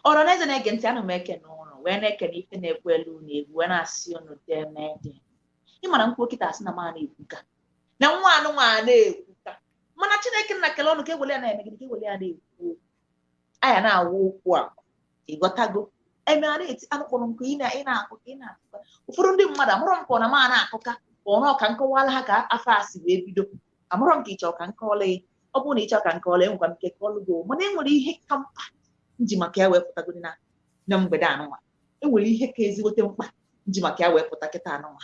ọra na eze na-ege ntị ana m ekene ụnụ wee na-ekene ife na-ekwu elu ụnụ egwu wee na-asị ụnụ deeme ị ma na m kwuo kịta asị na m a na-ekwuka na nwa anụnwa na-ekwuka mana chineke nna kele ọnụ ka ewele ya na-eme gịnị ka ewele ya na-ekwu okwu aya na-awụ okwu a ịghọtago eme a na-eti anụkpụrụ nkụ ị na- ị na-akọka ị na-akọka ụfọdụ ndị mmadụ amarọ maka ọ na m a na-akọka ka ọ bụ ka m kọwala ha ka afa a si wee bido amarọ m ka ịchọ ka m kọọla gị ọ bụrụ na ịchọ ka m kọọla enwekwa m ike kọọlụ gị o. mana enwere ihe ka mkpa m ji maka ya wee pụtagodi na na mgbede anụnwa enwere ihe ka ezigbote mkpa m ji maka ya wee pụta kịta anụnwa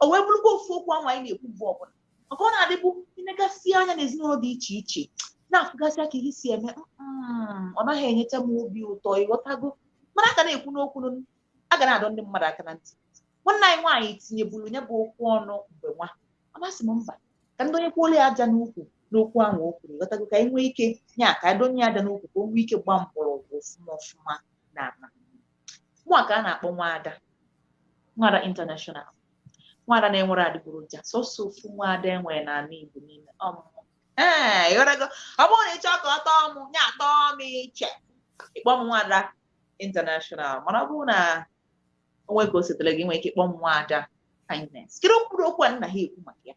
o wee bụrụkwa ofu okwu ahụ anyị na-ekwu mgbe ọbụla maka ọ na-adị abụ ịnegasịa anya n'ezinụlọ dị iche iche na-afụgasịa ka ihe si eme mm, ọ naghị enyecha m obi ụtọ ịghọtago mana a ga na-ekwunụ okwu nụ, a ga na-adọ ndị mmadụ aka na ntị nwanne anyị nwaanyị tinyeburu ya bụ okwu ọnụ mgbe nwa a m asị mba ka m donyekwuola ya aja n'ukwu n'okwu ahụ o kwuru ịghọtago ka anyị nwee ike nya ka anyị donye ya aja n'ukwu ka o nwee ike gbaa mgbọrọgwụ ọfụma ọfụma na ala mụa ka a na-akpọ nwaada nwaada international nwaada na-enwerọ adịgboroja sọsọ ofu nwaada enwere n'ala Igbo niile ọ mụ mụ ee ịghọtago ọ bụrụ na ị chọọ ka ọ tọọ mụ ya atọọ m iche ịkpọ m nwaada international mana ọ bụrụ na o nwe ka o sitere gị i nwee ike ịkpọ m nwaada kindness kedu mkpụrụ okwu a m na-aga ekwu maka ya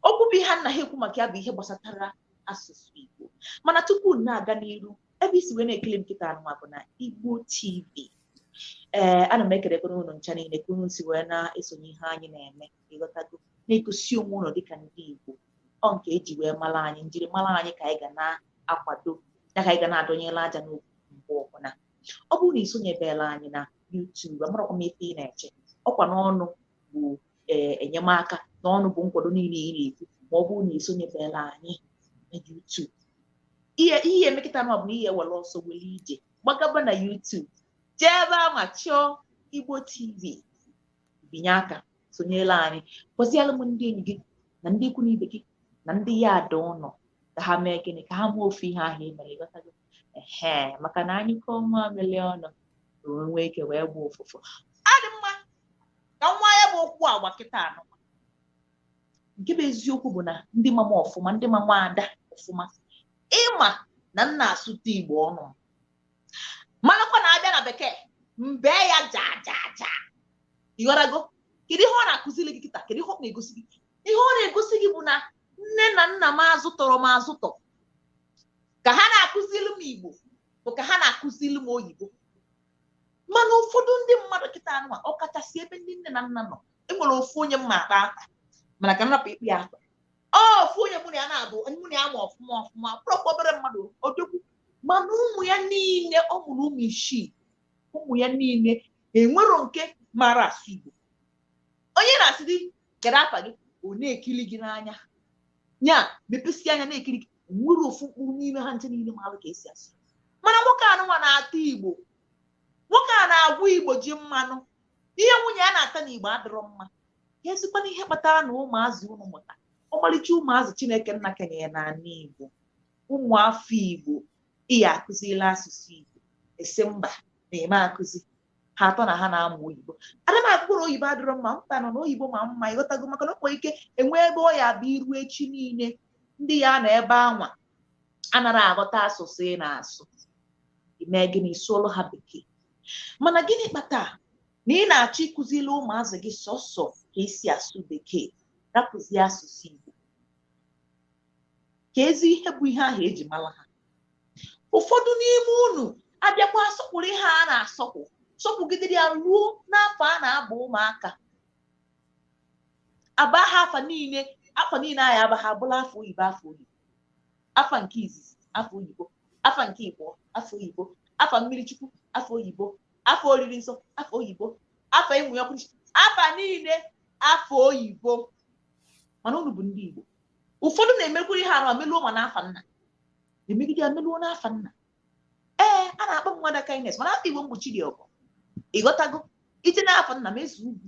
okwu bụ ihe m na-aga ekwu maka ya bụ ihe gbasatara asụsụ Igbo mana tupu m na-aga n'iru ebe i si wee na-ekili m kịta anụnwa bụ na Igbo TV ee ana m ekelekwa unu ncha niile ka unu si wee na-esonye ihe anyị na-eme ịghọtago na-egosi onwe unu dịka ndị Igbo ọ nke eji wee mara anyị njirimara anyị ka anyị ga na-akwado ya ka anyị ga na-adonyere aja n'ukwu mgbe ọbụla ọ bụrụ na ị sonyebela anyị na YouTube amarakwa m ife ị na-eche ọkwa n'ọnụ bụ ee enyemaka n'ọnụ bụ nkwado niile ị na-ekwu ma ọ bụrụ na ị sonyebela anyị na YouTube ihe ị ya-eme kịta na ọ bụ na ị ya-ewere ọsọ were ije gbagaba na YouTube jee ebe a ma chọọ Igbo TV binye aka sonyela anyị gwaziela m ndị enyi gị na ndị ikwu na ibe gị na ndị yard ụlọ ka ha mee gịnị ka ha mee ofu ihe ahụ ị mere ịghọtago ehe maka na a nyụkọọ nwamịlị ọnụ ka o nwee ike wee gba ụfụfụ ọ dị mma ka nwa ya bụ okwu agba kịta anụ nke bụ eziokwu bụ na ndị ma m ọfụma ndị ma nwaada ọfụma ịma na m na-asụta igbo ọnụ malụkwa na abịa na bekee m bee ya ja ja ja ịghọtago kedu ihe ọ na-akụziri gị kịta kedu ihe ọ na-egosi gị ihe ọ na-egosi gị bụ na nne na nna m azụtọrọ m azụtọ ka ha na-akụziri m igbo bụ ka ha na-akụziri m oyibo mana ụfọdụ ndị mmadụ kịta anụwa ọ kachasị ebe ndị nne na nna nọ enwere ofu onye m ma akpa akpa mana ka m rapụ ikpe ya akpa ofu onye mụ na ya na-abụ mụ na ya ma ọfụma ọfụma ọ bụrọkwa obere mmadụ odogwu mana ụmụ ya niile ọ mụrụ ụmụ isii ụmụ ya niile enwero nke mara asụ igbo onye na-asị gị kedu afa gị ọ na-ekiri gị n'anya nya mepesi anya na-ekiri gị nwero ofu mkpụrụ n'ime ha ncha niile maalụ ka esi asụ mana nwoke anụnwa na-ata igbo nwoke a na-agwọ igbo ji mmanụ ihe nwunye ya na-ata na igbo adịrọ mma ya esikwana ihe kpatara na ụmụazị unu mụta ọmarịcha ụmụazị chineke nna kenyere n'ala igbo ụmụ afọ igbo ị ya akụzila asụsụ igbo ị sị mba na ị ma akụzi ha atọ na ha na-amụ oyibo ada m ekwu na oyibo adịrọ mma mba no oyibo mara mma ịghọtago maka na o nwere ike enwe ebe ọ ya bụ i ruo echi niile ndị ya nọ ebe anwa anarọ aghọta asụsụ ị na-asụ i mee gịnị sụọlụ ha bekee mana gịnị kpata na ị na-achọ ịkụzili ụmụazị gị sọsọ ka esi asụ bekee rapụzie asụsụ igbo ka ezi ihe bụ ihe ahụ eji mara ha ụfọdụ n'ime unu abịakwa asọkwuru ihe a na-asọkwu sọkwugidere ya ruo n'afa a na-aba ụmụaka aba ha afa niile afa niile a ya aba ha abụlụ afa oyibo afa oyibo afa nke izizi afa oyibo afa nke ịbọ afa oyibo afa mmiri chukwu afa oyibo afa oriri nsọ afa oyibo afa ịmụ ya ọkụ afa niile afa oyibo mana unu bụ ndị igbo ụfọdụ na-emekwa ihe arụ emeluo ma n'afa nna emegide emeluo n'afa nna ee a na-akpọ m nwada kindness mana afa igbo m bụ chidiọgọ ịghọtago i je n'afa nna m ezeugwu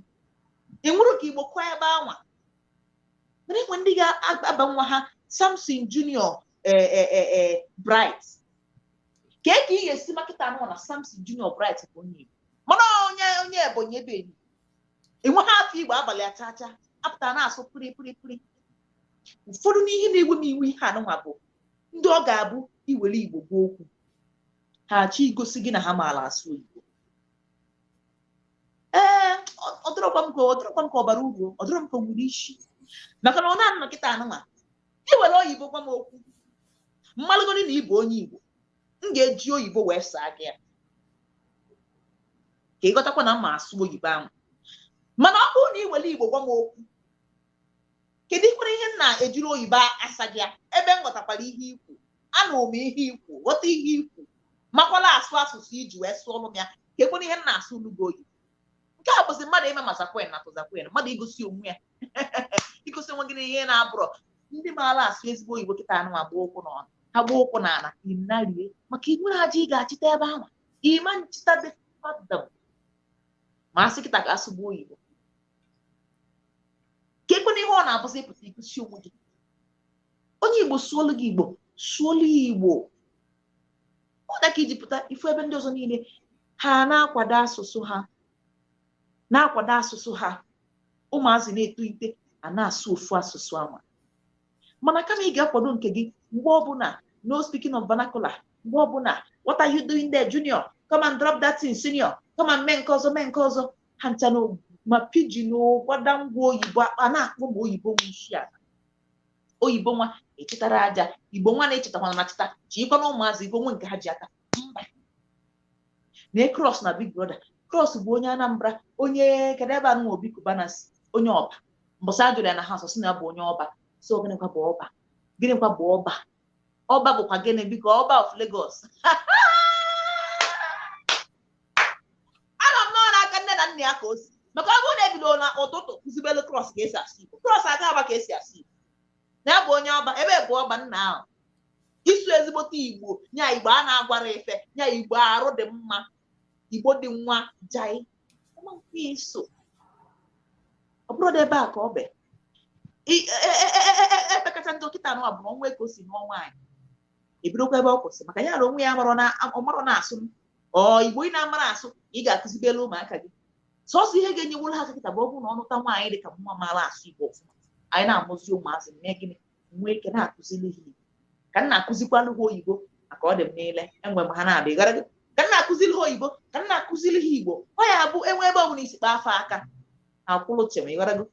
enwere ka igbo kụọ ebe anwa mana enwe ndị ga-aba nwa ha samson junior eh, eh, eh, bright kee ka ị ga-esi ma kịta anụ na samson junior bright bụ onye igbo mana onye onye ebonyi ebe anyị enweghị afa igbo a balị ha cha cha apụta na-asụ pụrị pụrị pụrị ụfọdụ n'ihe na-ewe m iwe ihe anụnwa bụ ndị ọ ga-abụ i were igbo gwa ha okwu ha achọ igosi gị na ha amarọ asụ igbo ee ọ dịrọkwa m ka ọ dịrọkwa m ka ọ bara uru ọ dịrọ m ka o nwere isi maka na ọ na-anọ kịta anụnwa i were oyibo gwa m okwu m malụgodi na ị bụ onye igbo m ga-eji oyibo wee saa gị ya ka ị ghọtakwa na m ma asụ oyibo ahụ mana ọ bụrụ na ị were igbo gwa m okwu kedukwanụ ihe m na-ejiri oyibo asa gị ya ebe m ghọtakwara ihe i kwu anụ m ihe i kwu ghọta ihe i kwu makwala asụ asụsụ i ji wee sụọrọ m ya keekwanụ ihe m na-asụlụ gị oyibo nke a bụzi mmadụ ime ma zakwen na tozakwen mmadụ igosi onwe ya igosi onwe gị na ihe na-abụrọ ndị maara asụ ezigbo oyibo kịta anụ ma gbaa ụkwụ n'ọnụ ha gbaa ụkwụ n'ala inarie maka ibu na aja ị ga-achịta ebe ahụ ịma nchịta dị fadam ma asị kịta ka asụgbu oyibo ka ekwe na ihe ọ na-abụzi ịpụta igosi onwe gị onye igbo sụolu gị igbo sụolu igbo ọ dị ka iji pụta ifu ebe ndị ọzọ niile ha na-akwado asụsụ ha na-akwado asụsụ ha ụmụazị na-etolite a na-asụ ofu asụsụ anwa mana kama ị ga-akwado nke gị mgbe ọbụla no speaking of vernacular mgbe ọbụla what are you doing there junior come and drop that thing senior come and mee nke ọzọ mee nke ọzọ ha ncha na ma pidgin gbada ngwa oyibo akpa na-akpọ ma oyibo nwe isi ala oyibo nwa ịchịtara aja igbo nwa na-echetakwana na cheta chikwa na ụmụazị igbo nwe nke ha ji aka mba na cross na big brother cross bụ onye anambra onye kedụ ebe anụ obi Cubana si onye ọba mbọsị ajụrụ ya na ha sọsị na ya bụ onye ọba so gịnịkwa bụ ọba gịnịkwa bụ ọba ọba bụkwa gịnị biko ọba of Lagos ama m na ọ n'aka nne na nna ya ka o si maka ọ bụrụ na ebido na ụtụtụ kụzibelu cross ka esi asụ igbo cross aga ama ka esi asụ igbo na ya bụ onye ọba ebe bụ ọba nna ahụ isu ezigbote igbo nya igbo a na-agwarọ ife nya igbo arụ dị mma igbo dị nwa jai iso ọ bụrụ na ebe a ka ọ bụ epekacha ndị dọkịta nụ abụrụ ọnwa ego si n'ọnwa anyị ebidokwa ebe ọ kwụsị maka ya na onwe ya ọmarọ na-asụ ọ igbo ị na-amarọ asụ ị ga-akụzibelu ụmụaka gị sọsọ ihe ga-enyeworo ha kịta bụ ọ bụrụ na ọ nụta nwaanyị dị ka mụwa maara asụ igbo ọfụma anyị na-amụzi ụmụazị mee gịnị nwee ike na-akụziri ha igbo ka m na-akụzikwalụ ha oyibo maka ọ dị m niile enwe m ha na-abịa gara ka m na-akụziri ha oyibo ka m na-akụziri ha igbo ọ ya bụ enwe ebe ọ bụla isi kpaa fa aka akwụlụ chem ịgharago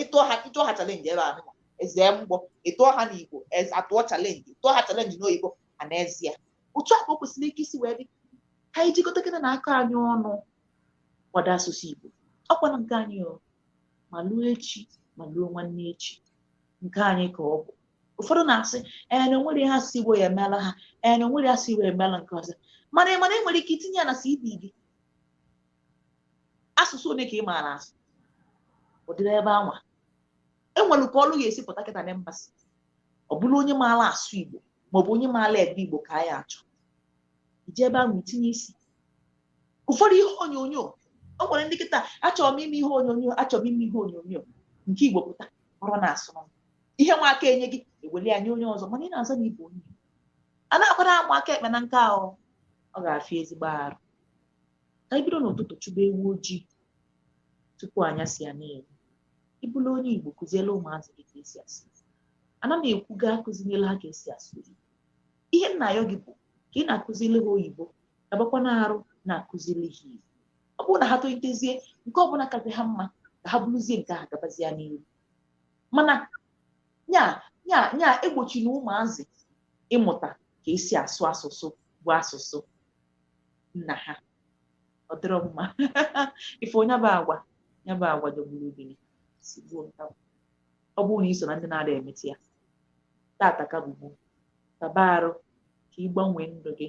ịtụọ ha ịtụọ ha challenge ebe ahụ ezee mgbọ ịtụọ ha n'igbo atụọ challenge ịtụọ ha challenge n'oyibo ma n'ezie otu a ka o kwesịrị ike isi wee dị ka anyị jikọta kịta na aka anyị ọnụ kwado asụsụ Igbo ọkwana nke anyị ma luo echi ma luo nwanne echi nke anyị ka ọ bụ ụfọdụ na-asị ee na onwerọ ihe asụsụ Igbo ya-emelụ ha ee na onwere asụsụ Igbo emeela nke ọzọ mana ị mana ị nwere ike itinye ya na CV gị asụsụ one ka ị maara asụ ụdịrị ebe anwa enwere ka ọlụ ga-esi pụta kịta na mba sị ọ bụrụ onye maara asụ igbo maọbụ onye maara ede igbo ka anyị achọ ije ebe ahụ itinye isi ụfọdụ ihe onyonyo o nwere ndị kịta achọrọ m ime ihe onyonyo achọrọ m ime ihe onyonyo nke igbo pụta ọrụ na-asụ ihe nwa a ka enye gị eweli ya nye onye ọzọ mana ị na-aza na igbo onye anakwarọ amụ aka ekpe na nka ahụ ọ ga-afịa ezigbo arụ ka anyị bido n'ụtụtụ chụba ewu ojii tupu anyasị ya na-eru ị bụrụ onye Igbo kụziela ụmụazị gị ka esi asụ Igbo anarọ m ekwu gị akụzinyela ha ka esi asụ oyibo ihe m na-ayọ gị bụ ka ị na-akụzili ha oyibo gabakwa na arụ na-akụzili ha Igbo ọ bụrụ na ha tolitezie nke ọbụla kazị ha mma ka ha buruzie nke ahụ gabazie n'ihu mana nya nya nya egbochina ụmụazị ịmụta ka esi asụ asụsụ bụ asụsụ nna ha ọ dịrọ mma ife nya bụ agwa nya bụ agwa jọgburu udele sigbuo nkakwụ ọ bụrụ na iso na ndị na-adị emete ya tata ka bụ gboo taba arụ ka ị gbanwee ndụ gị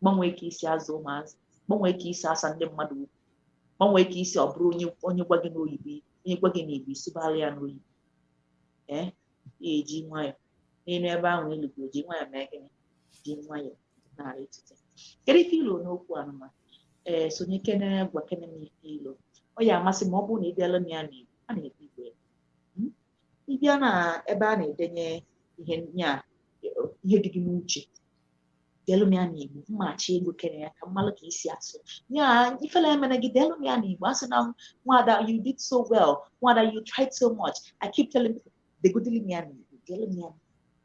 gbanwee ka isi azụ ụmụazị gbanwee ka isi asa ndị mmadụ okwu gbanwee ka isi ọ bụrụ onye onye gwa gị n'oyibo onye gwa gị n'igbo ị sụbara ya n'oyibo ee ya eji nwayọọ n'elu ebe ahụ ị rịgoro ji nwayọọ mee gịnị ji nwayọọ na-arịtute kedu ife ilo n'okwu anụnwa ee sonye kene gwa kene m ife ilo ọ ya amasị m ma ọ bụrụ na ị bịala m ya na igbo a na-ekwu igbo ya Hmm? ị bịa na ebe a na-edenye ihe nya ihe dị gị n'uche delu m ya n'igbo mmachi ego kene ya ka m malụ ka isi asụ ya ifele emena gị delu m ya n'igbo asịna nwada you did so well nwada you tried so much i keep telling people degodili m ya n'igbo delu m ya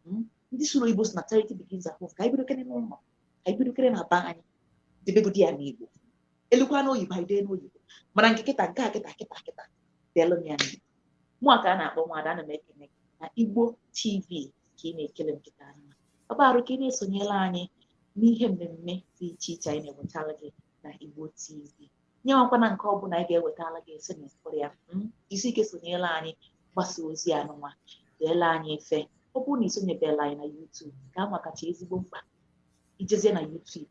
hmm? ndị sụrụ igbo sị na charity begins at home ka anyị bidokene n'ụlọ ka anyị bidokene na be anyị debegodi ya n'igbo elukwa n'oyibo anyị dee n'oyibo mana nke kịta nke a kịta kịta kịta delu m ya n'igbo mụwa ka a na-akpọ nwada ana m ekene na igbo tv ka ị na-ekili m kịta anya ọ bụ arụ ka ị na-esonyere anyị n'ihe mmemme dị iche iche anyị na-ewetara gị na Igbo TV nya enwekwana nke ọbụla anyị ga-ewetara gị ị sị na ị fụrọ ya hmm? jisi ike sonyere anyị gbasa ozi anụnwa deela anyị ife ọ bụrụ na isonyebela anyị na YouTube ka a makacha ezigbo mkpa ijezie na YouTube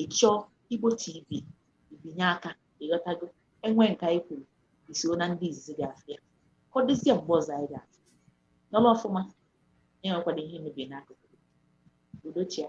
ịchọọ Igbo TV ibinye aka ịghọtago enwee nke anyị kwuru iso na ndị izizi ga-afụ ya ka ọ dịzie mgbe ọzọ anyị ga-afụ nọrọ ọfụma nya enwekwana ihe mebiri n'akụkụ udo chịa